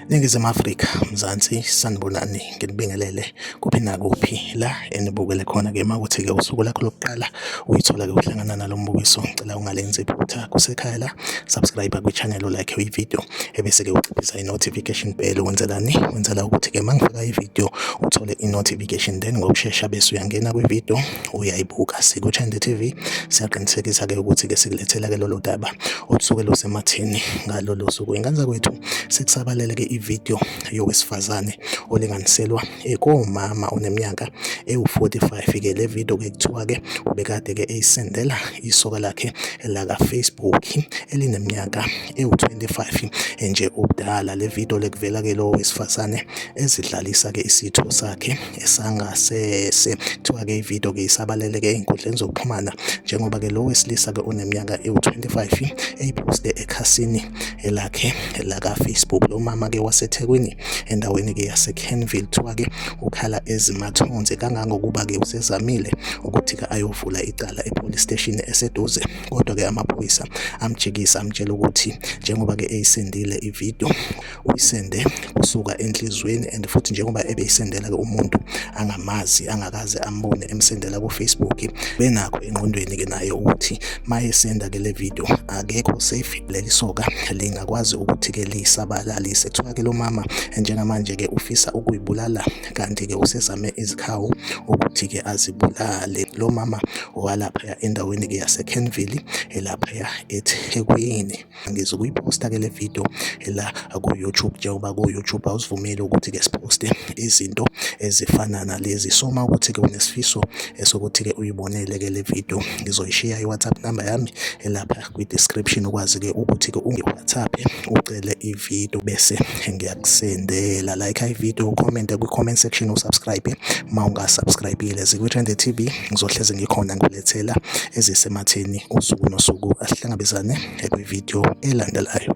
Ningizimu Afrika, Mzansi, sanibonani nginibingelele kuphi nakuphi la enibukele khona ke makuthi ke usuku lakho lokuqala uyithola ke uhlangana nalo mbukiso ngicela ungalenzi iphutha kusekhaya la subscribe kwi channel like i video ebese-ke uciphisa i-notification bell wenzelani wenzela ukuthi-ke uma ngifaka ividiyo uthole i-notification then ngokushesha bese uyangena kwividiyo uyayibuka sikuthende TV siyaqinisekisa-ke ukuthi-ke sikulethela-ke lolo daba olusuke lusematheni ngalolo suku ingane zakwethu sekusabalele-ke ividiyo yowesifazane olinganiselwa ekomama oneminyaka ewu-45 ke le video ke kuthiwa ke ubekade ke eyisendela isoka lakhe laka Facebook elineminyaka ewu-25 nje ubudala. Le video lekuvela ke lowo wesifazane ezidlalisa ke isitho sakhe esangasese. Kuthiwa ke ivideo ke isabalele ke ey'nkundleni zokuxhumana njengoba ke lo wesilisa ke oneminyaka ewu-25 eyiposte ekhasini elakhe laka-Facebook. Lo mama ke waseThekwini endaweni ke yaseKenville kuthiwa ke ukhala ezimathonsi kangangokuba ke usezamile ukuthi ke ayovula icala epolice station eseduze. kodwa ke amaphoyisa amjikisa amtshela ukuthi njengoba ke eyisendile ivideo uyisende kusuka enhlizweni and futhi njengoba ebeyisendela ke umuntu angamazi angakaze ambone emsendela ku Facebook benakho engqondweni ke naye ukuthi mayesenda ke le video akekho safe leli soka lingakwazi ukuthi ke lisabalalise kuthiwa ke lo mama njengamanje ke ufisa ukuyibulala kanti ke usezame izikhawu ukuthi ke azibulale lo mama walaphaya endaweni-ke yaseKenville elaphaya eThekwini. Ngizokuyiphosta-ke le video la ku-YouTube njengoba ku-YouTube awusivumeli ukuthi-ke siphoste izinto ezifana nalezi. So uma ukuthi-ke unesifiso esokuthi-ke uyibonele-ke le video ngizoyishiya i-WhatsApp number yami elapha. kwi-description ukwazi-ke ukuthi-ke ungi-whatsapp ucele ividiyo bese ngiyakusendela like ividiyo ucommente kwi-comment section usubscribe uma ungasubscribile zikwi-trende t v ngizohlezi ngikhona ngilethela ezisematheni usuku nosuku asihlangabezane kwividiyo elandelayo